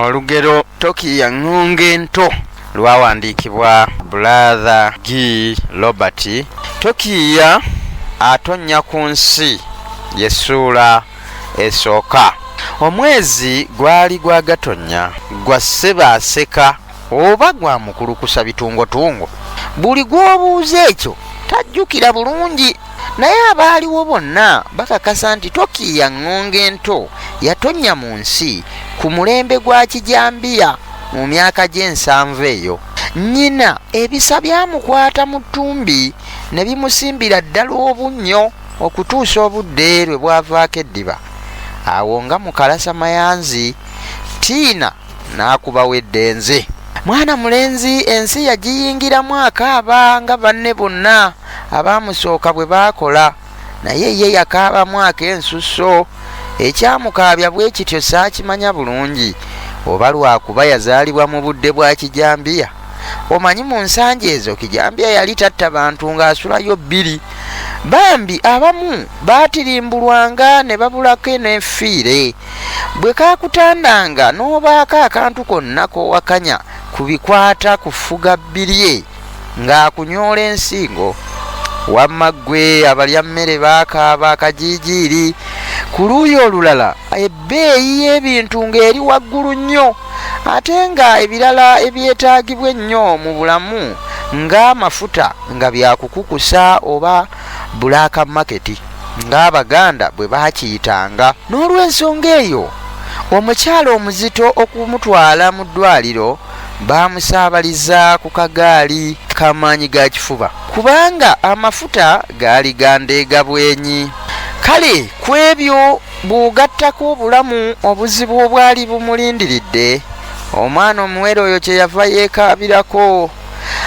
olugero tokiya ŋŋonge nto lwawandiikibwa bulaadha g robert tokiya atonnya ku nsi yesuula esooka omwezi gwali gwa gatonnya gwa ssebaaseka Oba gwa mukulukusa bitungotungo. Buli gw'obuuza ekyo tajjukira bulungi, naye abaaliwo bonna bakakasa nti Toki ya ŋŋonge ento yatonnya mu nsi ku mulembe gwa Kijambiya mu myaka gy'ensanvu eyo. Nnyina ebisa byamukwata mu ttumbi ne bimusimbira ddala obunnyo okutuusa obudde lwe bwavaako eddiba. Awo nga mukalasa mayanzi, Tiina. n'akubawo eddenze. Mwana mulenzi ensi yagiyingiramu akaaba nga banne bonna abaamusooka bwe baakola, naye ye yakaabamu ak'ensusso. Ekyamukaabya bwe kityo saakimanya bulungi, oba lwa kuba yazaalibwa mu budde bwa kijambiya. Omanyi mu nsangi ezo kijambiya yali tatta bantu ng'asulayo bbiri. Bambi abamu baatirimbulwanga ne babulako n'effiire. bwe kaakutandanga n'obaako akantu konna k'owakanya ku bikwata ku ffuga bbirye ng'akunyoola ensingo wamma ggwe abalya mmere baakaaba akajiijiiri ku luuyi olulala ebbeeyi y'ebintu ng'eri waggulu nnyo ate nga ebirala ebyetaagibwa ennyo mu bulamu ng'amafuta nga byakukukusa oba Black Market ng'Abaganda bwe baakiyitanga. N'olwensonga eyo, omukyala omuzito okumutwala mu ddwaaliro baamusaabaliza ku kagaali ka maanyi ga kifuba kubanga amafuta gaali ga ndeega bwenyi. Kale ku ebyo bw'ogattako obulamu obuzibu obwali bumulindiridde, omwana omuwere oyo kye yava yeekaabirako.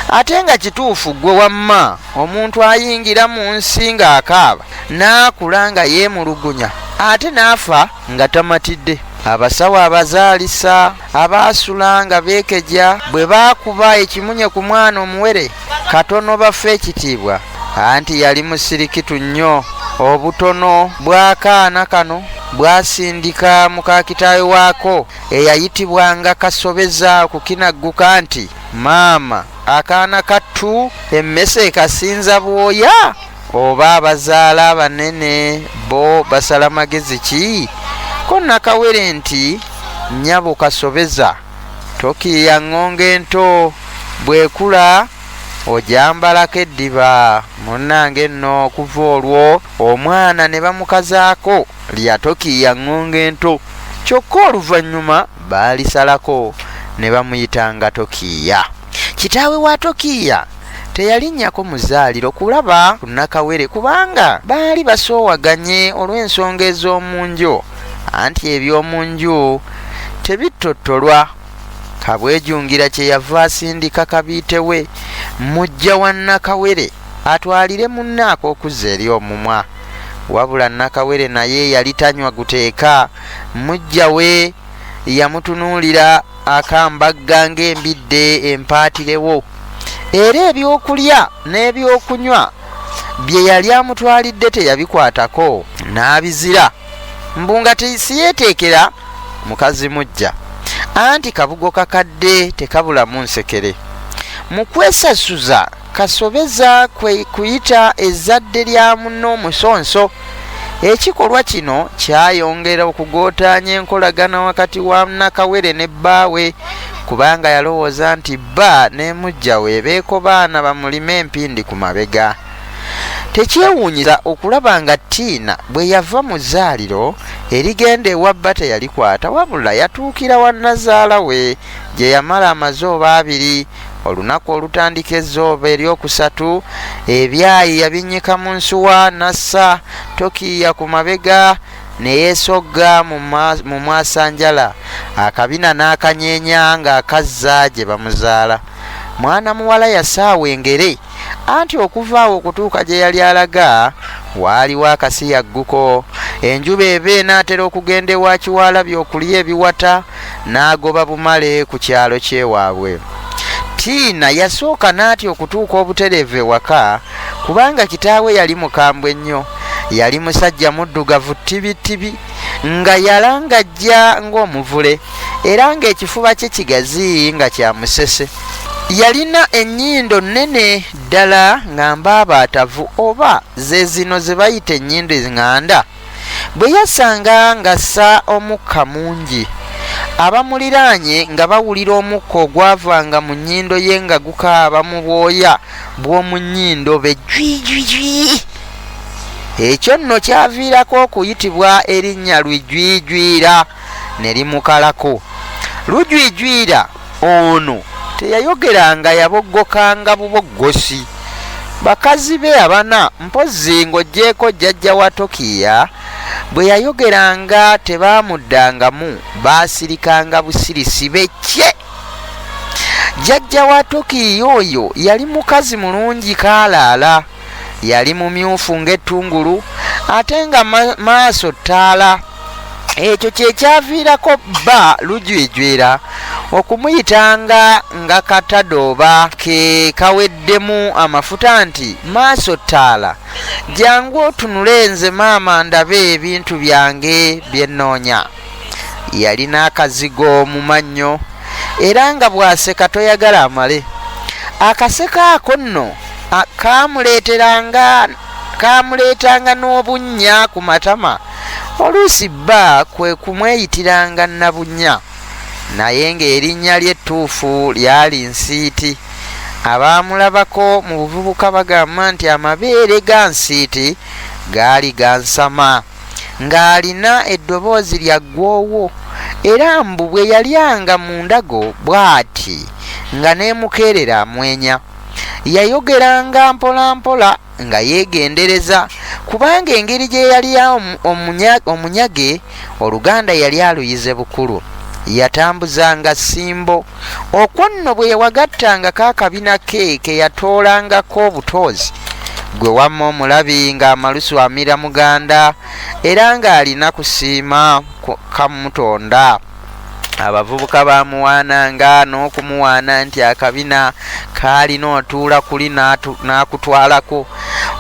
ate nga kituufu ggwe wamma omuntu ayingira mu nsi ng'akaaba n'akula nga yeemulugunya ate n'afa nga tamatidde abasawo abazaalisa abaasula nga beekegya bwe baakuba ekimunye ku mwana omuwere katono bafa ekitiibwa anti yali musirikitu nnyo obutono bw'akaana kano bwasindika muka kitaawe waako eyayitibwanga kasobeza okukinagguka nti Maama akaana kattu emmese ekasinza bwoya oba abazaala abanene bo basala magezi ki ko nakawere nti nyabo kasobeza tokiiya ŋŋonga ento bwekula ojambalako eddiba munnange nno okuva olwo omwana ne bamukazaako lya Tokiiya Ŋŋonge Ento kyokka oluvannyuma baalisalako ne bamuyitanga Tokiiya. Kitaawe wa Tokiiya teyalinnyako mu zzaaliro kulaba ku Nakawere kubanga baali basoowaganye olw'ensonga ez'omu nju anti eby'omu nju tebittottolwa. Kabwejungira kye yava asindika kabiite we, muggya wa Nakawere, atwalire munne ak'okuzza eri omumwa. wabula nakawere naye yali tanywa guteeka mujja we yamutunuulira akambagga ng'embidde empaatirewo era ebyokulya n'ebyokunywa bye yali amutwalidde teyabikwatako n'abizira mbu nga tisiyeeteekera mukazi mujja anti kabugo kakadde tekabulamu nsekere mu kwesasuza Kasobeza kwe kuyita ezzadde lya munne omusonso. Ekikolwa kino kyayongera okugootaanya enkolagana wakati wa Nakawere ne bbaawe kubanga yalowooza nti bba ne muggya we beekobaana bamulime empindi ku mabega. Tekyewuunyisa okulaba nga Tiina bwe yava mu zzaaliro erigenda ewa bba teyalikwata wabula yatuukira wa nnazaala we gye yamala amazooba abiri olunaku olutandika ezzooba eryokusatu ebyayi yabinnyika mu nsuwa n'assa tokiiya ku mabega ne yeesogga mu mwasanjala akabina n'akanyeenya ng'akazza gye bamuzaala mwana muwala yasaawa engere Anti okuva awo okutuuka gye yali alaga, waaliwo akasiyagguko. Enjuba eva enaatera okugenda ewa Kiwalabi okulya ebiwata n'agoba bumale ku kyalo ky'ewaabwe. Tiina yasooka n'atya okutuuka obutereevu ewaka kubanga kitaawe yali mukambwe nnyo. Yali musajja muddugavu ttibittibi nga yalangajja ng'omuvule era ng'ekifuba kye kigazi nga kya musese. Yalina ennyindo nnene ddala nga mbaabaatavu oba ze zino ze bayita ennyindo eŋŋanda. Bwe yasanga ng'assa omukka mungi, abamuliraanye nga bawulira omukka ogwavanga mu nnyindo ye nga gukaaba mu bwoya bw'omu nnyindo be Jwijwiji. Ekyo nno kyaviirako okuyitibwa erinnya Lwijwijwira ne limukalako. Lujwijwira. Ono teyayogeranga yaboggokanga buboggosi. Bakazi be abana mpozzi ng'oggyeeko jjajja wa Tokiiya bwe yayogeranga tebaamuddangamu baasirikanga busirisi be ccee. Jjajja wa Tokiiya oyo yali mukazi mulungi kaalaala. Yali mumyufu ng'ettungulu ate nga maaso ttaala. ekyo kyekyaviirako bba lujwijwira okumuyitanga nga katadooba ke kaweddemu amafuta nti maaso ttaala jangu otunule nze maama ndabe ebintu byange bye nnoonya yalina akazigo mu mannyo era nga bw'aseka toyagala amale akaseko ako nno kaamuleetanga n'obunnya ku matama Oluusi bba kwe kumweyitiranga Nabunnya naye ng'erinnya lye ettuufu lyali Nsiiti. Abaamulabako mu buvubuka bagamba nti amabeere ga Nsiiti gaali gansama, ng'alina eddoboozi lya ggwoowo era mbu bwe yalyanga mu ndago bw'ati nga n'emukeerera amwenya. Yayogeranga mpolampola. nga yeegendereza kubanga engeri gye yali omunyage oluganda yali aluyize bukulu yatambuzanga simbo okwo nno bwe yewagattangako akabina ke ke yatoolangako obutoozi gwe wamma omulabi ng'amalusu amira muganda era ng'alina kusiima kamutonda abavubuka bamuwaananga n'okumuwaana nti akabina kaalina otuula kuli n'akutwalako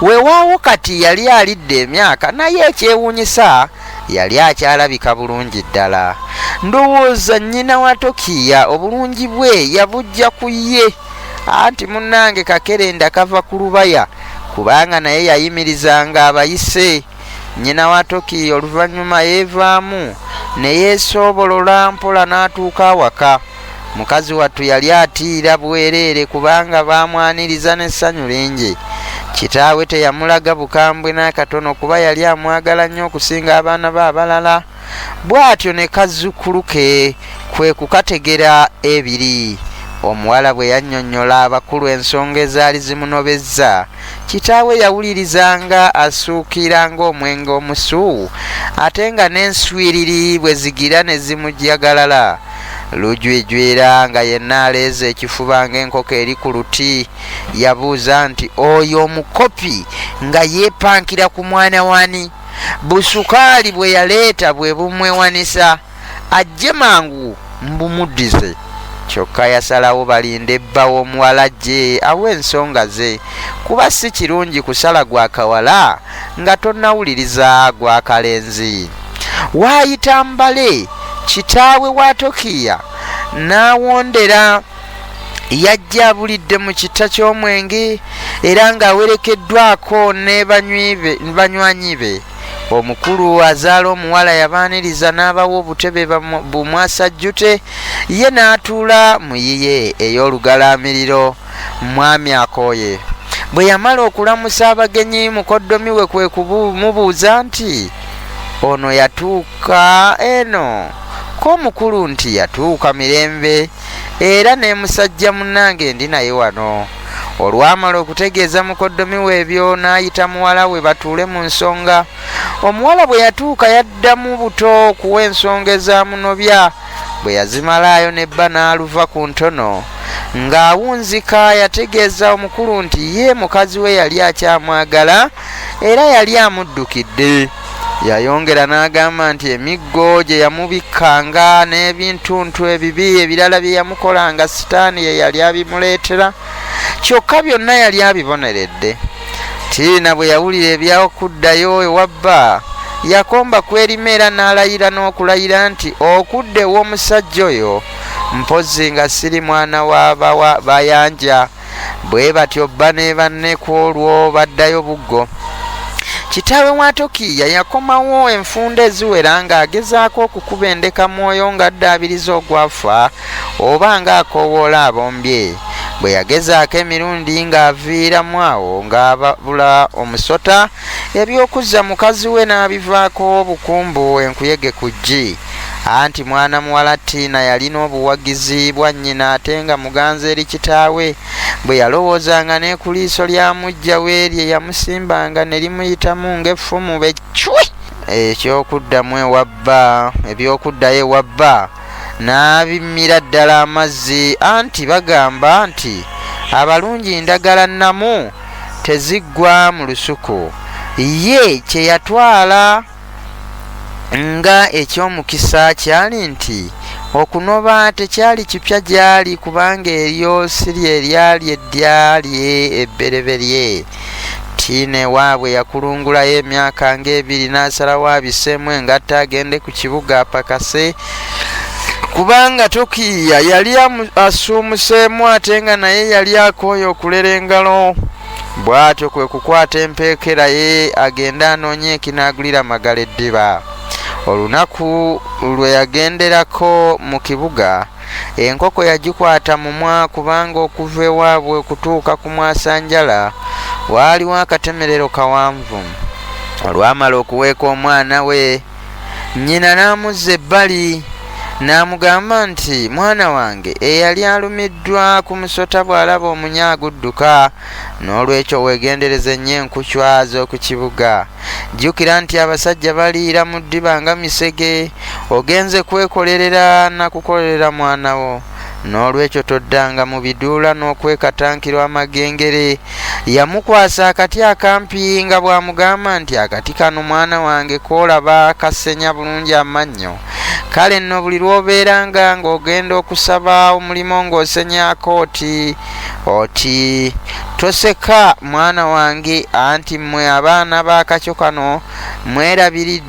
wewaawo kati yali alidde emyaka naye ekyewuunyisa yali akyalabika bulungi ddala ndowooza nnyina wa tokiya obulungi bwe yabujja ku ye anti munnange kakerenda kava ku lubaya kubanga naye yayimirizanga abayise Nnyina wa Toki oluvannyuma yeevaamu ne yeesoobolola mpola n'atuuka awaka. Mukazi wattu yali atiira bwereere kubanga baamwaniriza n'essanyu lingi. Kitaawe teyamulaga bukambwe n'akatono kuba yali amwagala nnyo okusinga abaana be abalala. bw'atyo ne kazzukkulu ke kwe kukategera ebiri. Omuwala bwe yannyonnyola abakulu ensonga ezaali zimunobezza, kitaawe yawuliriza nga asuukiira ng'omwenge omusu ate nga n'enswiriri bwe zigira ne zimujagalala. Lujwijwira nga yenna aleeze ekifuba ng'enkoko eri ku luti, yabuuza nti, Oyo omukopi nga yeepankira ku mwana w'ani? busukaali bwe yaleeta bwe bumwewanisa ajje mangu mbumuddize kyokka yasalawo balinde bba w'omuwala gye awa ensonga ze kuba si kirungi kusala gwa kawala nga tonnawuliriza gwa kalenzi waayita mbale kitaawe wa tokiya n'awondera yajja abulidde mu kitta ky'omwenge era ng'awerekeddwako ne banywanyi be omukulu azaala omuwala yabaaniriza n'abawa obutebe bumwasajjute ye n'atuula mu yiye ey'olugalaamiriro mwami akooye bwe yamala okulamusa abagenyi mukoddomi we kwe kumubuuza nti ono yatuuka eno ko omukulu nti yatuuka mirembe era ne musajja munnange ndi naye wano olwamala okutegeeza mukoddomi we ebyo n'ayita muwala we batuule mu nsonga omuwala bwe yatuuka yaddamu buto okuwa ensonga ezamunobya bwe yazimalaayo ne bba n'aluva ku ntono ng'awunzika yategeeza omukulu nti ye mukazi we yali akyamwagala era yali amuddukidde Yayongera n'agamba nti emiggo gye yamubikkanga n'ebintuntu ebibi ebirala bye yamukolanga sitaani ye yali abimuleetera kyokka byonna yali abiboneredde. Tiina bwe yawulira eby'okuddayo ewa bba yakomba ku erima era n'alayira n'okulayira nti okudda ew'omusajja oyo mpozzi nga siri mwana wa bayanja. bwe batyo bba ne banne ku olwo baddayo buggo kitaawe wa tokiya yakomawo enfunda eziwera ng'agezaako okukuba endeka mwoyo ng'addaabiriza ogwafa oba ng'akoowoola abombye bwe yagezaako emirundi ng'aviiramu awo ng'ababula omusota Eby'okuzza mukazi we n'abivaako obukumbu enkuyege ku ggi. Anti mwana muwala Tiina yalina obuwagizi bwa nnyina ate nga muganzi eri kitaawe. Bwe yalowoozanga ne ku liiso lya muggya we lye yamusimbanga ne limuyitamu ng'effumu be ccwi! Eky'okuddamu ewa bba, eby'okuddayo ewa bba n'abimmira ddala amazzi anti bagamba nti abalungi ndagala nnamu. teziggwa mu lusuku ye kye yatwala nga eky'omukisa kyali nti okunoba tekyali kipya gy'ali kubanga eryo si lye lyali eddya lye ebbereberye tiina ewaabwe yakulungulayo emyaka ng'ebiri n'asalawo abiseemu engatto agende ku kibuga apakase kubanga tokiya yali asuumuseemu ate nga naye yali akooye okulera engalo bw'atyo kwe kukwata empeekera ye agende anoonye ekinaagulira magala eddiba olunaku lwe yagenderako mu kibuga enkoko yagikwata mumwa kubanga okuva ewaabwe okutuuka ku mwasanjala waaliwo akatemerero kawanvu olwamala okuweeka omwana we Nnyina n'amuzza ebbali n'amugamba nti, Mwana wange, eyali alumiddwa ku musota bw'alaba omunya agudduka. N'olwekyo weegendereze nnyo enkucwa z'oku kibuga. Jjukira nti abasajja baliira mu ddiba nga misege. Ogenze kwekolerera na kukolerera mwana wo. n'olwekyo toddanga mu biduula n'okwekatankirwa amagengere. Yamukwasa akati akampi nga bw'amugamba nti akati kano mwana wange koolaba kasenya bulungi amannyo. Kale nno buli lw'obeera nga ng'ogenda okusaba omulimu ng'osenyaako oti oti toseka mwana wange anti mmwe abaana b'akakyo kano mwerabiridde.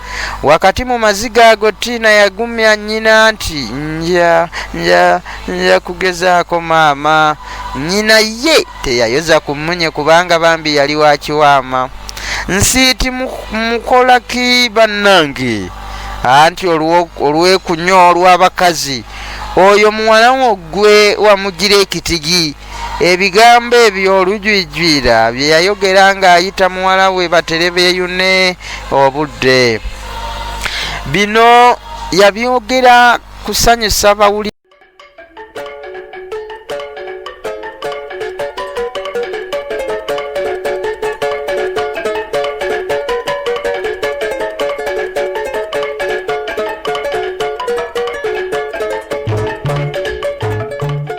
wakati mu maziga ago tiina yagumya nnyina nti nja nja nja kugezaako maama nnyina ye teyayoza ku mmunye kubanga bambi yali wakiwaama nsiiti mukola ki bannange anti olw'ekunya olw'abakazi oyo muwala wo ggwe wamugira ekitigi Ebigambo ebyo olujwijwira bye yayogera ng'ayita muwala we batere beeyune obudde. Bino yabyogera kusanyusa bawuli